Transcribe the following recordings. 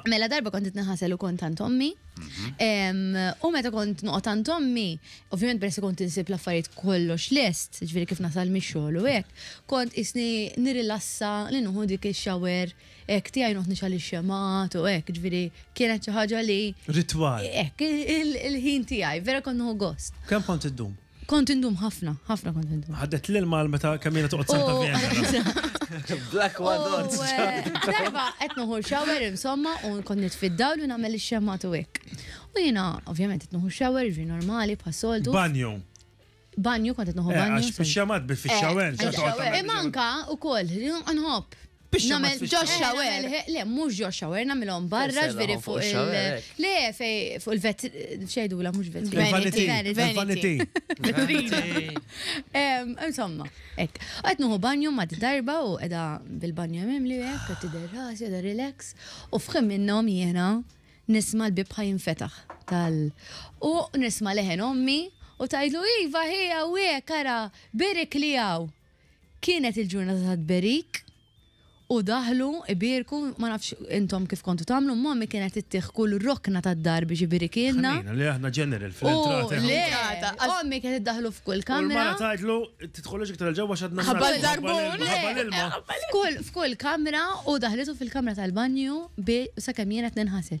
Mela darba kont nħasel u kont għand ommi. U meta kont noqgħod għand ommi, ovvjament peress kont insib l-affarijiet kollox lest, ġifieri kif nasal mix-xogħol u hekk, kont isni nirrilassa li nuħu dik ix-shower hekk tiegħi noqgħod nixgħal ix-xemgħat u hekk, ġifieri kienet xi ħaġa li. Ritwal. Hekk, il-ħin tiegħi, vera kont nieħu gost. Kemm kont iddum? Kont indum ħafna, ħafna kont indum. Ħaddet l-ilma għal meta kemm jiena toqgħod santa Vienna. Black Wadon. Darba qed noħol shower insomma u nkun nitfiddaw li nagħmel ix-xemmat u hekk. U jiena ovvjament qed noħol shower ġi normali bħas-soltu. Banju. Banju kont qed noħol eh, banju. Għax bix-xemmat bi fix-shower. Eh, Imma anka ukoll nħobb Biex Namel xamat Josh fix-xawer. Shower. Namel he- Le, mhux ġo shower, nagħmilhom barra Sella, ġveri fuq fuq il- il-shower, hekk. Le, fej fuq il-vet. Xejdula, mhux vet. Vanity. Vanity. Vanity. Vanity. Em, Insomma, ek. Għet nuhu banju ma darba u edha bil-banju mimli u ek, għet derras, edha relax. U fħim minnom jena nisma l-bib ħajn fetaħ tal. U nisma leħen ommi u tajdlu iva ħija u ek, ara, birik li għaw. Kienet il-ġurnata ta' tberik u daħlu ibierku, ma nafx intom kif kontu tagħmlu, mommy kienet ittieħ kull rokna tad-dar biex ibirikilna. Ħnejna, le aħna ġeneral fl-entrata. U le, ommi kienet iddaħlu f'kull kamra. U l-mara tgħidlu, tidħolux iktar il-ġewwa x'għadna nħabba l-barbun. Ħabba l-ilma. F'kull kamra u daħlitu fil-kamra tal-banju sakemm jien qed ninħasel.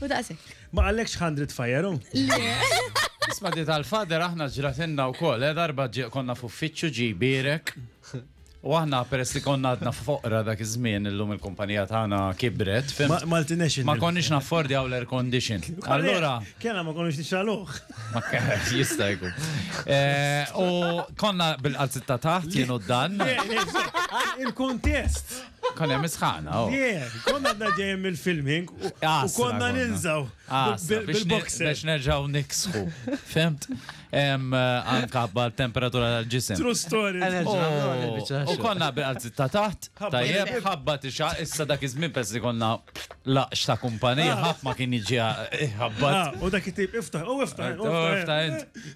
U daqshekk. Ma qallekx x'ħandret fajeru? Le. Isma' di tal-fader aħna ġratilna wkoll, eh, darba ġie konna f'uffiċċju ġie jbierek. U aħna peress li konna għadna foqra dak iż-żmien illum il-kumpanija tagħna kibret, fim. Ma- multinational. Ma konniex naffordjaw l-air condition. Allura. Kellna ma konniex nixgħaluh. Ma ke- jista' jkun. Eh, U konna bil-qalzitta taħt jien u dan. Le, le, Il-kuntest. Kon hemm isħana. Oh. Konna għadna ġejjem mill-filming u konna ninżaw bil-boxer. Biex nerġaw niksħu. Femt? Anka bħal temperatura tal-ġisem. True story. Oh. U konna bil-għazzi ta' taħt, tajjeb, ħabba tixa, issa dak iż-żmien pes li konna laqx ta' kumpanija, ah. ħadd ma kien iġi eh, ħabba. Ah, u dak it-tip iftaħ, u iftaħ. U iftaħ.